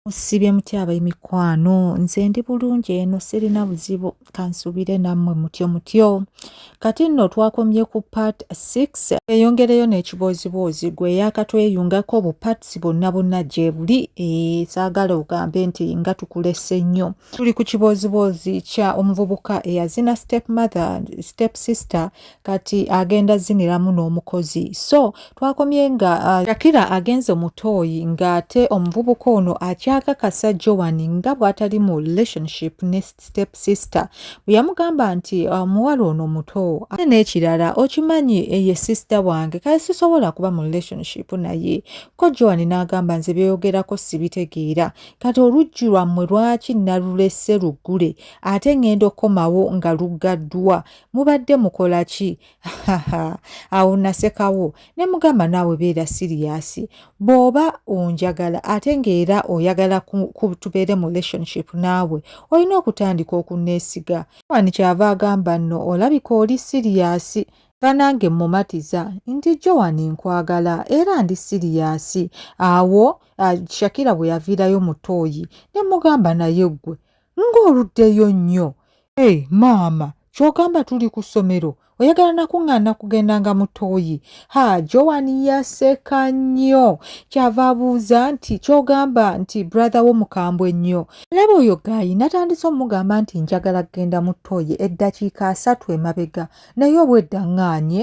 Musibye mutya abaimikwano nze ndi bulungi eno sirina buzibu kansubire nammwe mutyo mutyo kati nno twakomye ku part 6 eyongereyo n'ekibooziboozi gwe yakatweyungako bu parts bonna bonna gyebuli eh, saagala ogambe nti nga tukulese nnyo tuli ku kibooziboozi kya omuvubuka eyazina step mother step sister kati agenda ziniramu n'omukozi so twakomye nga uh, shakira agenze omutooyi ng'ate omuvubuka ono akyakakasa joan nga bw'atali mu relationship ne step sister bwe yamugamba nti omuwala uh, ono muto ate n'ekirala okimanyi eye eh, sister wange kale sisobola kuba mu relationship naye ko joan n'agamba nze byoyogerako sibitegeera kati oluggi lwammwe lwaki nalulese luggule ate ng'enda okukomawo nga luggaddwa mubadde mukola ki awo nasekawo ne mugamba naawe beera siriyasi bw'oba onjagala ate ng'era oyagala kutubeere mu relationship naawe olina okutandika okunneesiga ani kyava agamba nno olabika oli siriyasi banange mmumatiza nti joan nkwagala era ndi siriyasi awo ah, shakira bwe yaviirayo mu tooyi ne mugamba naye ggwe ng'oluddeyo nnyo e eh, maama kyogamba tuli ku ssomero oyagala nakuŋŋaana kugenda nga mutoyi ha joan yaseka nnyo kyava abuuza nti kyogamba nti brother wo mukambwe nnyo laba oyo gayi natandise omugamba nti njagala kugenda mutoyi eddakiika asatu emabega naye obwedda ŋŋaanye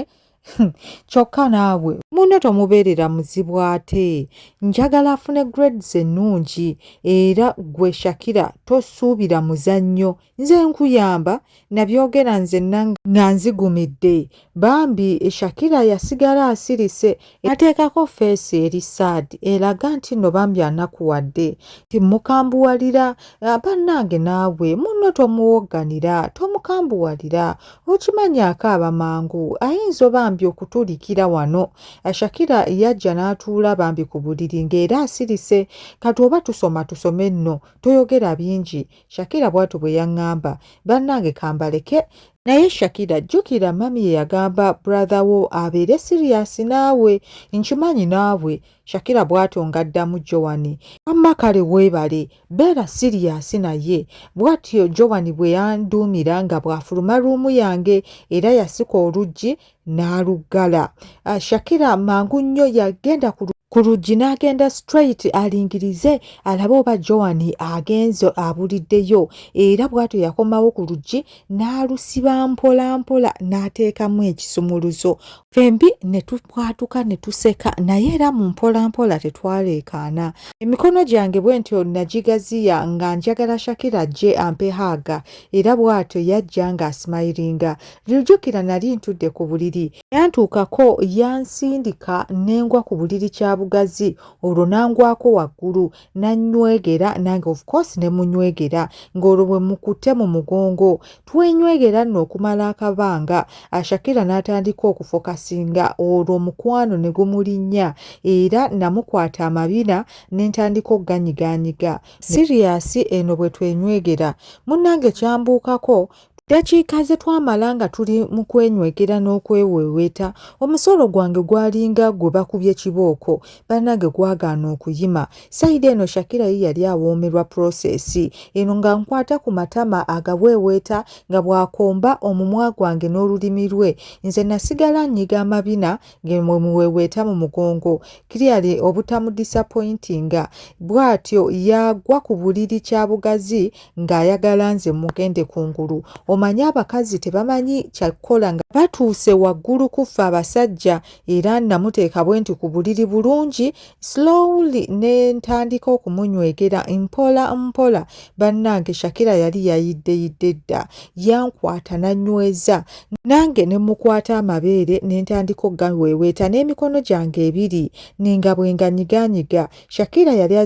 Hmm, kyokka naabwe munne tomubeerera muzibu ate njagala afune grades ennungi era gwe shakira tosuubira muzannyo nze nkuyamba nabyogera nze nga nzigumidde bambi shakira yasigala asirise ateekako feesi eri sad eraga nti no bambi anakuwadde timukambuwalira bannange naabwe munno tomuwogganira tomukambuwalira okimanyi akaaba mangu ayinza obambi okutulikira wano shakira yajja n'atuula bambi ku buliri ng'era asirise kati oba tusoma tusome nno toyogera bingi shakira bw'atyo bwe yaŋŋamba bannange kambaleke naye shakira jjukira mami ye yagamba brother wo abeere siriyasi naawe nkimanyi naawe na Shakira bwatyo ng'addamu Joan. Wamma kale weebale, beera siriyaasi naye. Bwatyo Joan bwe yanduumira nga bw'afuluma ruumu yange era yasika oluggi n'aluggala. Ah, Shakira mangu nnyo yagenda ku ku luggi n'agenda straight alingirize alabe oba Joan agenze abuliddeyo era bw'atyo yakomawo ku luggi n'alusiba mpolampola n'ateekamu ekisumuluzo fembi ne tubwatuka ne tuseka naye era mu mpola mpola tetwaleekaana emikono gyange bwe ntyo nagigaziya nga njagala shakira ajje ampe haaga era bw'atyo yajja ng'asimayiringa lijukira nali ntudde ku buliri yantuukako yansindika nengwa ku buliri kya bugazi olwo nangwako waggulu nanywegera nange of course ne munywegera ng'olwo bwe mukute mu mugongo twenywegera nno okumala akabanga ashakira n'atandika okufokasinga olwo omukwano ne gumulinnya era namukwata amabina ne ntandika okuganyiganyiga siriyasi eno bwe twenywegera munnange kyambuukako Ddakiika ze twamala nga tuli mu kwenywegera n'okweweeweeta, omusolo gwange gwalinga gwe bakubye kibooko, bannange gwagaana okuyima. Sayidi eno Shakira ye yali awoomerwa puloseesi eno nga nkwata ku matama agaweeweeta nga bw'akomba omumwa gwange n'olulimi lwe. Nze nasigala nnyiga amabina ge mwe muweeweeta mu mugongo, clearly obutamudisapoyintinga. Bw'atyo yagwa ku buliri kyabugazi ng'ayagala nze mugende ku ngulu omanyi abakazi tebamanyi kyakukola nga batuuse waggulu kuffe abasajja era namuteeka bwe nti ku buliri bulungi slowly ne ntandika okumunywegera mpola mpola bannange shakira yali yayiddeyidde dda yankwata nanyweza nange ne mukwata amabeere ne ntandika okugaweeweeta n'emikono gyange ebiri ninga bwe nganyiganyiga Shakira yali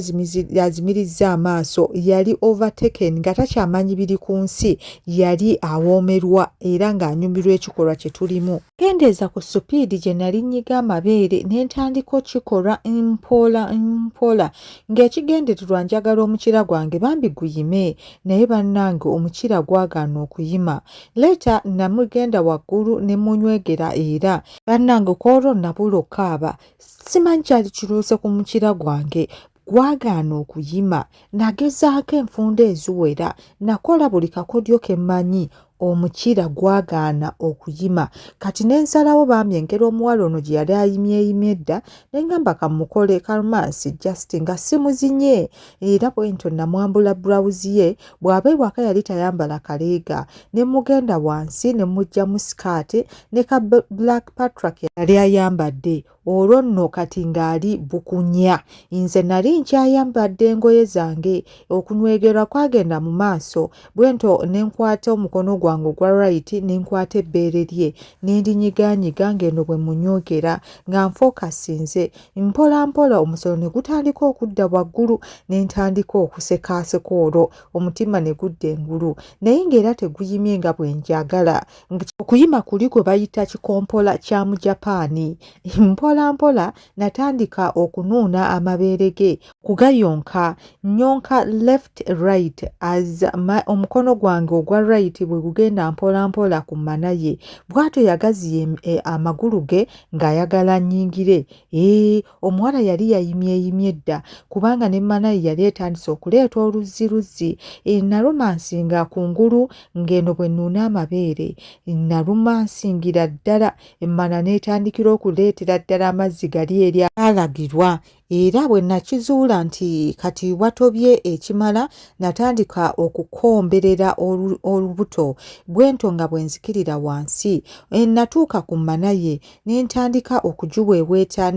azimirizza amaaso yali overtaken nga takyamanyi biri ku nsi yali awoomerwa era ng'anyumirwa ekikolwa kye tulimu kendeeza ku supiidi gye nali nnyiga amabeere ne ntandika okikola mpola mpola ng'ekigendererwa njagala omukira gwange bambi guyime naye bannange omukira gwagaana okuyima leeta namugenda waggulu ne munywegera era bannange ku olwo nabula okukaaba simanyi kyali kiruuse ku mukira gwange gwagaana okuyima nagezaako enfunda eziwera nakola buli kakodyo ke mmanyi omukira gwagaana okuyima kati ne nsalawo bambi engeri omuwala ono gye yali ayimyeyimye edda ne ngamba kamukole kalmansi just nga simuzinye era bwentyo namwambula burawuzi ye bw'aba ewaka yali tayambala kaleega ne mugenda wansi ne mujjamu sikaati ne ka black patrick yali ayambadde olwo nno kati ng'ali bukunya nze nali nkyayambadde engoye zange okunwegerwa kwagenda mu maaso bwento ne nkwata omukono gwange ogwa rayiti ne nkwata ebbeere lye ne ndinyiganyiga ng'eno bwe munyogera nga nfookasinze mpolampola omusolo ne gutandika okudda waggulu ne ntandika okusekaaseka olwo omutima ne gudda engulu naye ng'era teguyimye nga bwe njagala okuyima kuli gwe bayita kikompola kya mu japaani mpolampola natandika okunuuna amabeere ge kugayonka nyonka left right as omukono gwange ogwa right bwe gugenda mpolampola ku mana ye bw'atyo yagaziye eh, amagulu ge ng'ayagala nnyingire ee omuwala yali yayimyeyimye dda kubanga ne manayi yali etandise okuleeta oluzzi luzzi e, nalumansinga ku ngulu ng'eno bwe nnuuna amabeere nalumansingira ddala emmana n'etandikira okuleetera ddala amazzi gali eri alagirwa era bwe nakizuula nti kati watobye ekimala natandika okukomberera olubuto bwento nga bwe nzikirira wansi e, natuuka ku mmana ye ne ntandika okugiweeweeta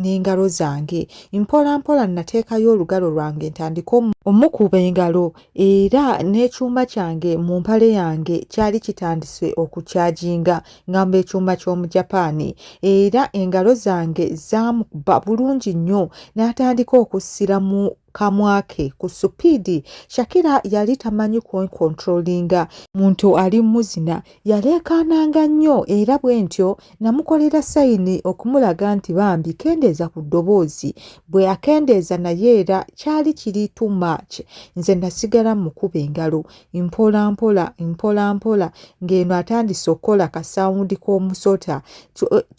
n'engalo zange mpola mpola nateekayo olugalo lwange ntandika omukuba engalo era n'ekyuma kyange mu mpale yange kyali kitandise okukyaginga ngamba ekyuma ky'omujapaani era engalo zange zaamukuba bulungi nnyo n'atandika okussiramu kamwa ke ku supiidi shakira yali tamanyi kwenkontrolinga muntu ali muzina yaleekaananga nnyo era bwe ntyo namukolera sayini okumulaga nti bambi kendeeza ku ddoboozi bwe akendeeza naye era kyali kiri too much nze nasigala mukuba engalo mpola mpola mpola mpola ng'eno atandise okukola kasawundi k'omusota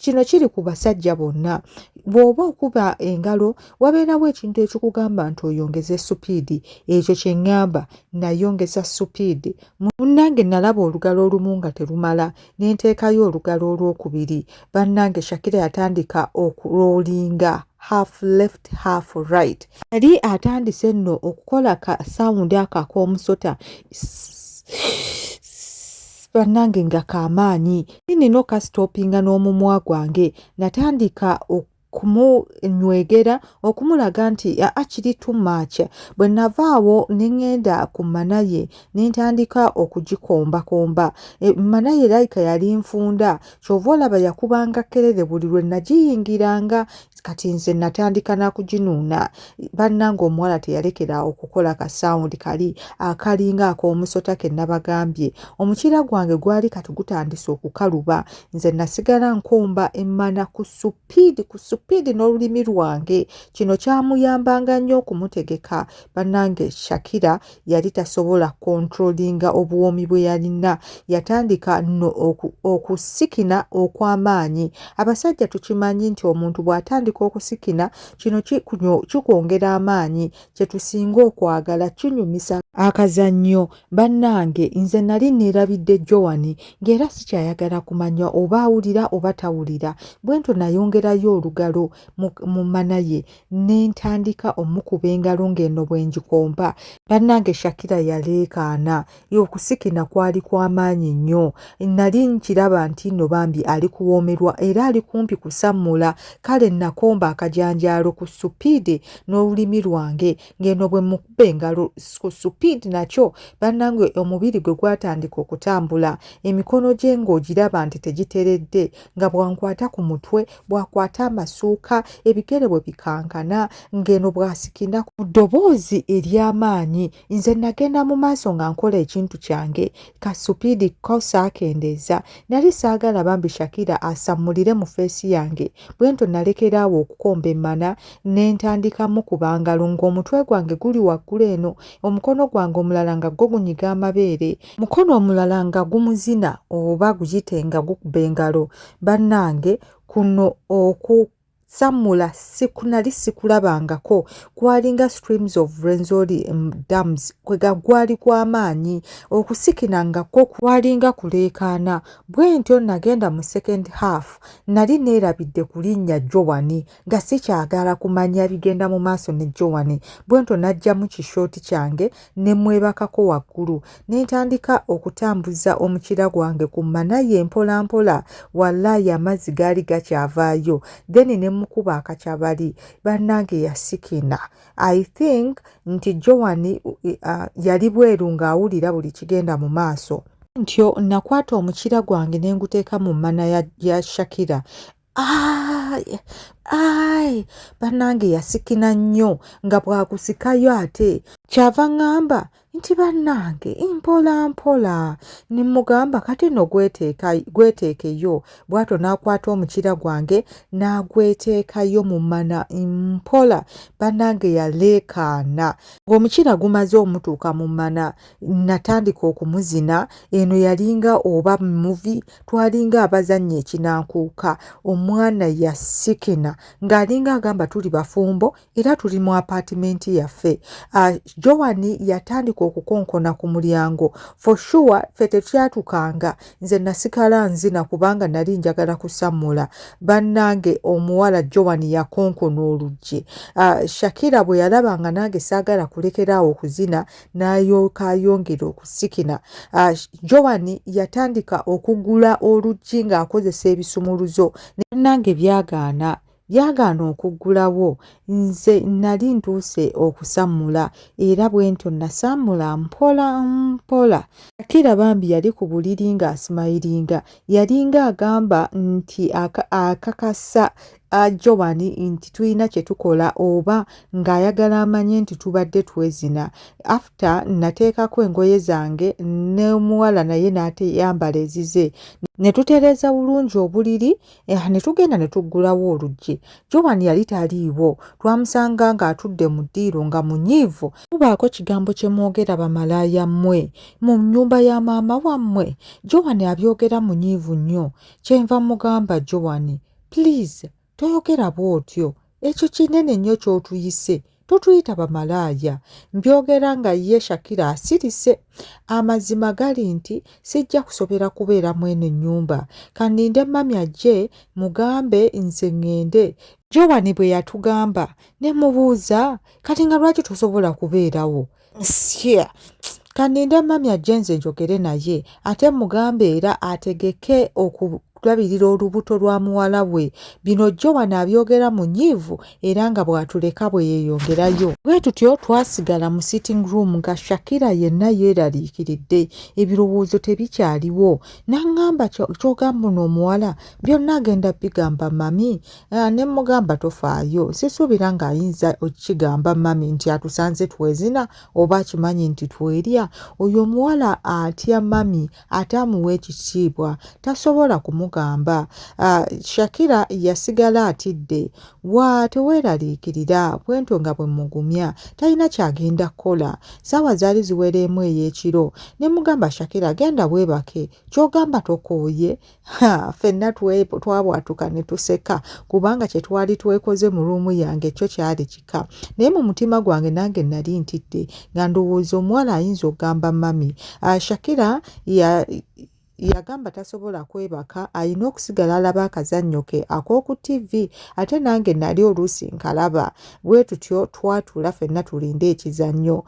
kino kiri ku basajja bonna bw'oba okuba engalo wabeerawo ekintu ekikugamba nti oyongeze supiidi ekyo kye ŋŋamba nayongeza supiidi munnange nalaba olugalo olumu nga terumala nenteekayo olugalo olwokubiri bannange shakira yatandika okuloolinga half left half right yali atandise nno okukola ka sawundi ako ak'omusota bannange nga kamaanyi nino kasitopinga n'omumwa gwange natandika kumunywegera okumulaga nti akiri too much bwe nava awo ne ŋŋenda ku manaye ne ntandika okugikombakomba e, manaye layika yali nfunda kyova olaba yakubanga kerere buli lwe nagiyingiranga kati nze natandika nakuginuuna bannanga omuwala teyalekera okukola ka sound kali akalinga ak'omusota ke nabagambye omukiira gwange gwali kati gutandise okukaluba nze nasigala nkomba emmana ku supiidi ku supiidi n'olulimi lwange kino kyamuyambanga nnyo okumutegeka bannange shakira yali tasobola kontrolinga obuwoomi bwe yalina yatandika no okusikina okw'amaanyi abasajja tukimanyi nti omuntu bw'atandika okusikina kino kikwongera amaanyi kye tusinga okwagala kinyumisa akazannyo Bannange nze nali neerabidde Joan ng'era sikyayagala kumanya oba awulira oba tawulira bwentyo nayongerayo olugalo mu mana ye ne ntandika omukuba engalo ng'eno bwe ngikompa bannange Shakira yaleekaana okusikina kwali kwa maanyi nnyo nali nkiraba nti nno bambi ali kuwoomerwa era ali kumpi kusammula kale nakomba akajanjaalo ku supiidi n'olulimi lwange ng'eno bwe mukuba engalo ku supiidi nakyo bannange omubiri gwe gwatandika okutambula emikono gye ng'ogiraba nti tegiteredde nga bwankwata ku mutwe bwakwata amasuuka ebigere bwe bikankana ng'eno bwasikina ku ddoboozi ery'amaanyi nze nagenda mu maaso nga nkola ekintu kyange ka supiidi ko saakendeeza nali saagala bambi shakira asammulire mu feesi yange bwentyo nalekera awo okukomba emmana ne ntandikamu ku bangalo ng'omutwe gwange guli waggulu eno omukono gwange omulala nga gwo gunyiga amabeere mukono omulala nga gumuzina oba guyite nga gukuba engalo bannange kuno oku sammula sikunali sikulabangako kwalinga streams of renzoli dams kwega gwali gw'amaanyi okusikina nga kwo kwalinga kuleekaana bwe ntyo nagenda mu second half Nali neerabidde ku linnya Jowani nga sikyagaala kumanya bigenda mu maaso ne Jowani, bwentyo naggyamu kishooti kyange ne mmwebakako waggulu ne ntandika okutambuza omukira gwange ku mmana ye mpolampola. Wallaahi amazzi gaali gakyavaayo. Then ne mmukuba akacabali. Bannange yasikina. i think nti joan uh, yali bweru ng'awulira buli kigenda mu maaso ntyo nakwata omukira gwange ne nguteeka mu mmana ya, ya shakira ai ai bannange yasikina nnyo nga bwagusikayo ate kyava ŋŋamba nti bannange mpola mpola ne mmugamba kati nno gweteekeyo bw'atyo n'akwata omukira gwange n'agweteekayo mu mana mpola bannange yaleekaana ng'omukira gumaze omutuuka mu mana natandika okumuzina eno yalinga oba muvi twalinga abazannya ekinankuuka omwana yasikina ng'alinga agamba tuli bafumbo era tuli mu apaatimenti yaffe uh, joani yatandika okukonkona ku mulyango for sure ffe tetyatukanga nze nasigala nzina kubanga nali njagala kusammula bannange omuwala joani yakonkona oluggi uh, shakira bwe yalaba nga nange saagala kulekeraawo okuzina n'ayooka ayongera okusikina uh, joani yatandika okugula oluggi ng'akozesa ebisumuluzo nange byagaana byagaana okuggulawo nze nali ntuuse okusammula era bwentyo nasammula mpola mpola akira bambi yali ku buliri ng'asimayiringa yalinga agamba nti akakasa ajobani nti tulina kye tukola oba ng'ayagala amanye nti tubadde twezina after nateekako engoye zange n'omuwala naye n'ateyambala ezize ne tutereeza bulungi obuliri Eh, ne tugenda ne tuggulawo oluggi joan yali taliiwo twamusanga ng'atudde mu ddiiro nga munyiivu mubaako kigambo kye mwogera bamalaaya mmwe mu nnyumba ya maama wammwe joan abyogera munyiivu nnyo kyenva mugamba joan please toyogera bw'otyo ekyo kinene nnyo ky'otuyise totuyita bamalaaya mbyogera nga ye shakira asirise amazima gali nti sijja kusobera kubeera mu eno nnyumba kaninde mami ajje mugambe nze ŋŋende jowani bwe yatugamba ne mubuuza kati nga lwaki tosobola kubeerawo Sure. Kaninde mami ajje nze njogere naye ate mugambe era ategeke okulabirira olubuto lwa muwala we bino jjo wano abyogera mu nyiivu era nga bw'atuleka bwe yeeyongerayo bwe tutyo twasigala mu sitting room nga shakira yenna yeeraliikiridde ebirowoozo tebikyaliwo n'aŋŋamba kyogamba uno omuwala byonna agenda bigamba mami Eh, ne mugamba tofaayo sisuubira ng'ayinza okigamba mami nti atusanze twezina oba akimanyi nti twerya oyo omuwala atya mami ate amuwa ekitiibwa tasobola kumugamba ah, shakira yasigala atidde wa teweeraliikirira bwentyo nga bwe mugumya talina kyagenda kukola saawa zaali ziwereemu ey'ekiro ne mugamba shakira genda weebake kyogamba tokooye fenna twabwatuka ne tuseka kubanga kye twali twekoze mu ruumu yange kyo kyali kika naye mu mutima gwange nange nali ntidde nga ndowooza omuwala ayinza okugamba mami ah, shakira ya yagamba tasobola kwebaka alina okusigala alaba akazannyo ke ak'oku tv ate nange nali oluusi nkalaba bwe tutyo twatula fenna tulinde ekizannyo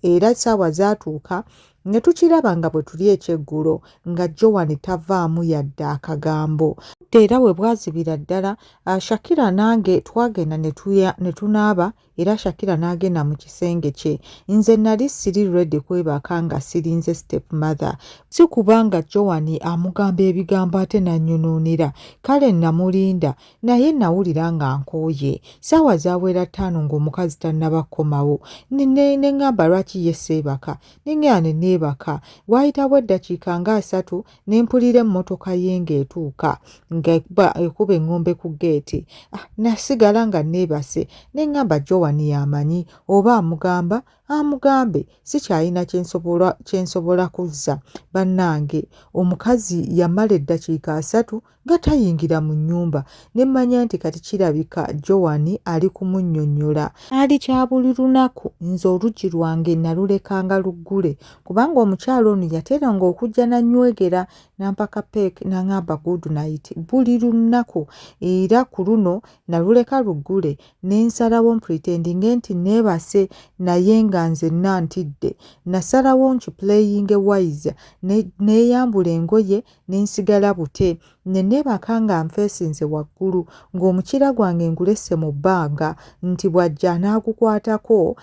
era saawa zaatuuka ne tukiraba nga bwe tuli ekyeggulo nga Joan tavaamu yadde akagambo budde era we bwazibira ddala ah, Shakira nange twagenda ne tunaaba era Shakira n'agenda mu kisenge kye nze nali siri ready kwebaka nga sirinze step mother si kubanga Joan amugamba ebigambo ate nanyonoonera kale namulinda naye nawulira nga nkooye saawa zawera ttaano ng'omukazi tannaba kukomawo ne ŋŋamba lwaki ye seebaka ne ŋŋenda ne neebaka waayitawo eddakiika nga asatu ne mpulira emmotoka ye ng'etuuka ng'ekuba ekuba eŋŋombe ku ggeeti ah, nasigala nga neebase ne ŋŋamba jowani yamanyi oba amugamba amugambe sikyalina kye nsobola kuzza bannange omukazi yamala eddakiika asatu nga tayingira mu nnyumba ne mmanya nti kati kirabika Joan ali kumunnyonnyola. Kyali kya buli lunaku nze oluggi lwange nalulekanga luggule kubanga omukyala ono yateranga okujja n'annywegera n'ampaka peek n'aŋamba good night buli lunaku era ku luno naluleka luggule ne nsalawo mpretendinge nti neebase naye nga nzenna ntidde nasalawo nkipuleyinge wise neeyambula engoye ne nsigala bute ne neebaka nga nfeesinze waggulu ng'omukiira gwange ngulese mu bbanga nti bw'ajja anaagukwatako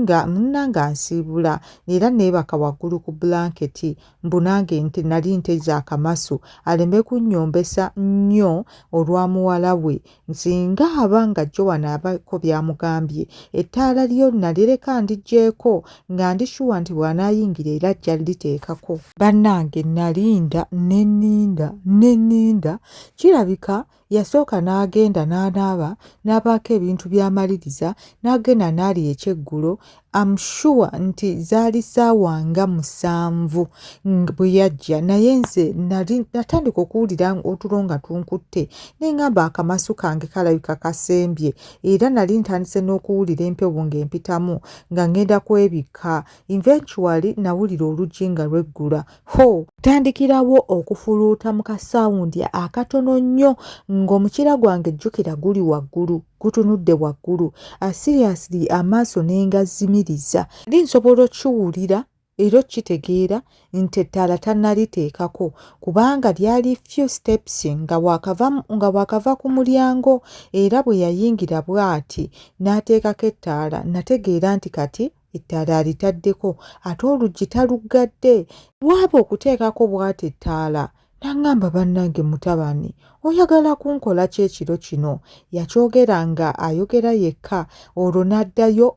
nga munna nga nsiibula era neebaka waggulu ku bulanketi mbu nange nti nali nteze akamasu aleme kunnyombesa nnyo olwa muwala we Nzinga aba nga Joan abako by'amugambye, ettaala lyo nalireka ndigyeko nga ndi shuwa nti bw'anaayingira era ajja liteekako. Bannange nalinda ne nninda ne nninda, kirabika yasooka n'agenda n'anaaba n'abaako ebintu by'amaliriza n'agenda n'alya ekyeggulo am sure nti zaali saawa nga musanvu bwe yajja naye nze nali natandika okuwulira otulo nga tunkutte nengamba akamasu kange kalabika kasembye era nali ntandise n'okuwulira empewo ng'empitamu nga ngenda kwebikka eventually nawulira oluggi nga lweggula Ho, tandikirawo okufuluuta mu kasawundi akatono nnyo ng'omukira gwange jjukira guli waggulu gutunudde waggulu asiriyasiri ah, amaaso ne ngazimiriza ndi nsobola okiwulira era okitegeera nti ettaala tannaliteekako kubanga lyali few steps nga waakava ku mulyango era bwe yayingira bw'ati n'ateekako ettaala nategeera nti kati ettaala alitaddeko ate oluggi taluggadde waaba okuteekako bw'ati ettaala n'aŋŋamba bannange mutabani oyagala kunkola ki ekiro kino yakyogera nga ayogera yekka olwo n'addayo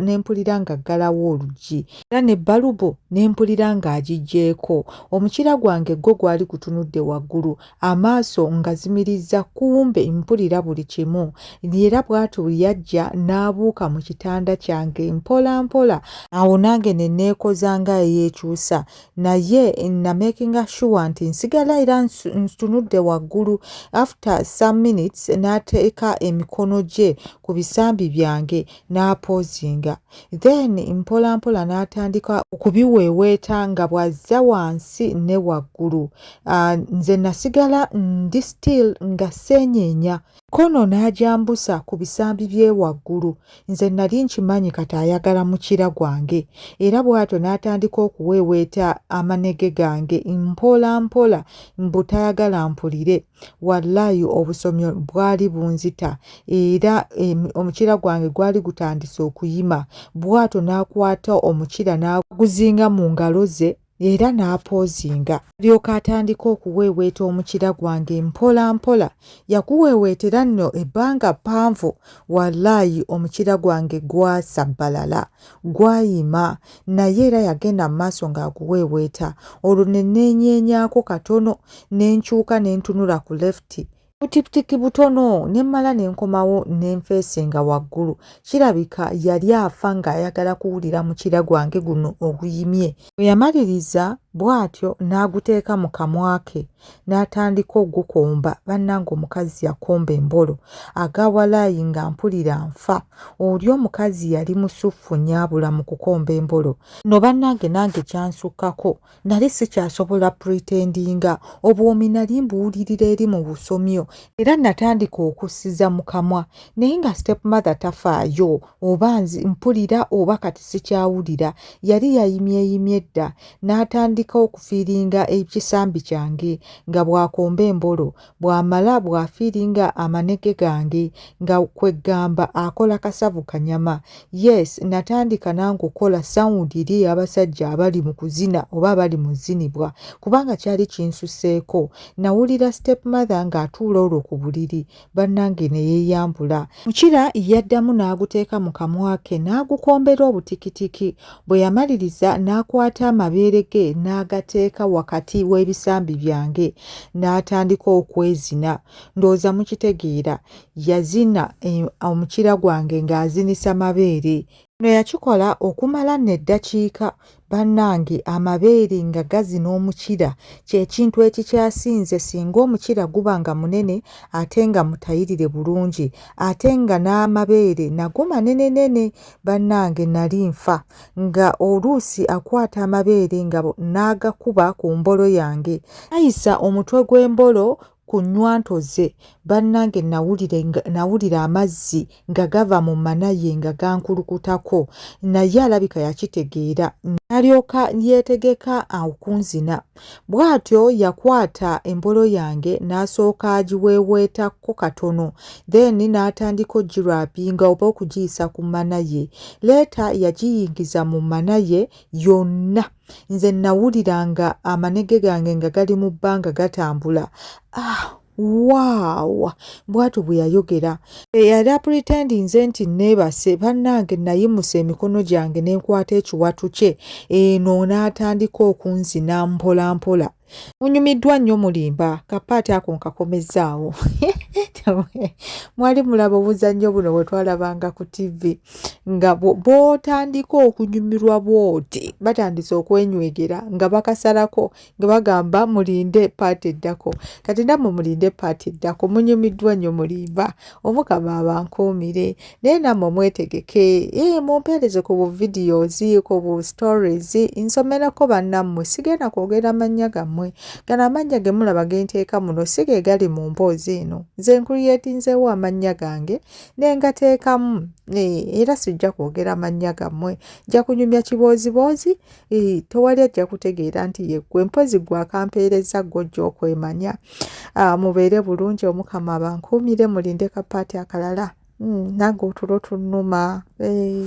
ne mpulira ng'aggalawo oluggi era ne bbalubu ne mpulira ng'agiggyeeko omukira gwange gwo gwali gutunudde waggulu amaaso ngazimirizza kumbe mpulira buli kimu era bw'atyo bwe yajja n'abuuka mu kitanda kyange mpola mpola awo nange ne neekoza nga eyeekyusa naye namekinga shuwa nti nsigala era ntunudde waggulu after some minutes n'ateeka emikono gye ku bisambi byange n'apoozinga then mpola mpola n'atandika okubiweeweeta nga bw'azza wansi ne waggulu ah, nze nasigala ndi still nga seenyeenya kono n'agyambusa ku bisambi bye waggulu nze nali nkimanyi kati ayagala mukira gwange era bw'atyo n'atandika okuweeweeta amanege gange mpola mpola mbu tayagala mpulire wallaayi obusomyo bwali bunzita era omukira gwange gwali gutandise okuyima bw'atyo n'akwata omukira n'aguzinga mu ngalo ze era n'apoozinga alyoka atandika okuweeweeta omukira gwange mpola mpola yakuweeweetera nno ebbanga ppanvu wallaayi omukira gwange gwasabbalala Gwayima, naye era yagenda mu maaso ng'aguweeweeta. Olwo ne neenyeenyaako katono, ne nkyuka ne ntunula ku lefti. Butiputiki butono ne mmala ne nkomawo ne nfeesinga waggulu. Kirabika yali afa ng'ayagala kuwulira mukyira gwange guno oguyimye. Bwe yamaliriza bw'atyo n'aguteeka mu kamwa ke. n'atandika ogukomba bannange omukazi yakomba embolo agawalaayi nga mpulira nfa oli omukazi yali musuffu nyaabula mu kukomba embolo no bannange nange kyansukkako nali sikyasobola pretendinga obwomi nali mbuwulirira eri mu busomyo era natandika okussiza mu kamwa naye nga step mother tafaayo oba mpulira oba kati sikyawulira yali yayimyeyimye dda n'atandika okufiiringa ekisambi kyange nga bw'akomba embolo bw'amala bw'afiiringa amanege gange nga kwe ggamba akola kasavu kanyama yes natandika nange okukola sawundi eri ey'abasajja abali mu kuzina oba abali mu zinibwa kubanga kyali kinsuseeko nawulira step mother ng'atuula olwo ku buliri bannange ne yeeyambula mukira yaddamu n'aguteeka mu kamwa ke n'agukombera obutikitiki bwe yamaliriza n'akwata amabeere ge n'agateeka wakati w'ebisambi byange n'atandika okwezina ndowooza mukitegeera yazina eh, omukira gwange ng'azinisa mabeere no yakikola okumala neddakiika Bannange amabeere nga gazina omukira kye kintu ekikyasinze singa omukira guba nga munene ate nga mutayirire bulungi ate nga n'amabeere nago manenenene bannange nali nfa nga oluusi akwata amabeere nga n'agakuba ku mbolo yange ayisa omutwe gw'embolo ku nnywanto ze bannange nawulire nawulira amazzi nga gava mu mana ye nga gankulukutako naye alabika yakitegeera nalyoka yeetegeka okunzina bw'atyo yakwata embolo yange n'asooka agiweeweetakko katono then n'atandika ogirapinga oba okugiyisa ku mana ye leeta yagiyingiza mu mana ye yonna nze nawulira nga amanege gange nga gali mu bbanga gatambula ah, waawa bwatyo bwe yayogera eyali apritendi nze nti neebase bannange nayimusa emikono gyange nenkwata ekiwatu kye eno n'atandika okunzina mpolampola munyumiddwa nnyo mulimba kapaati ako nkakomezzaawo mwali mulaba obuzannyo buno bwe twalabanga ku tivi nga bw'otandika okunyumirwa bw'oti batandise okwenywegera nga bakasalako nga bagamba mulinde paati eddako kati nammwe mulinde paati eddako munyumiddwa nnyo mulimba omukama abankuumire naye nammwe mwetegeke ee mumpeereze ku bu videos ku bu stories nsomerako bannammwe sigenda kwogera mannya gammwe gano amannya ge mulaba ge nteeka muno si ge gali mu mboozi eno nze nkuriyetinzeewo amannya gange ne ngateekamu era sijja kwogera mannya gammwe nja kunyumya kibooziboozi tewali ajja kutegeera nti yeggwe mpozi gwe akampeereza gwojja okwemanya ah, mubeere bulungi omukama abankuumire mulinde kapaati akalala hmm, nange otulo tunuma eh.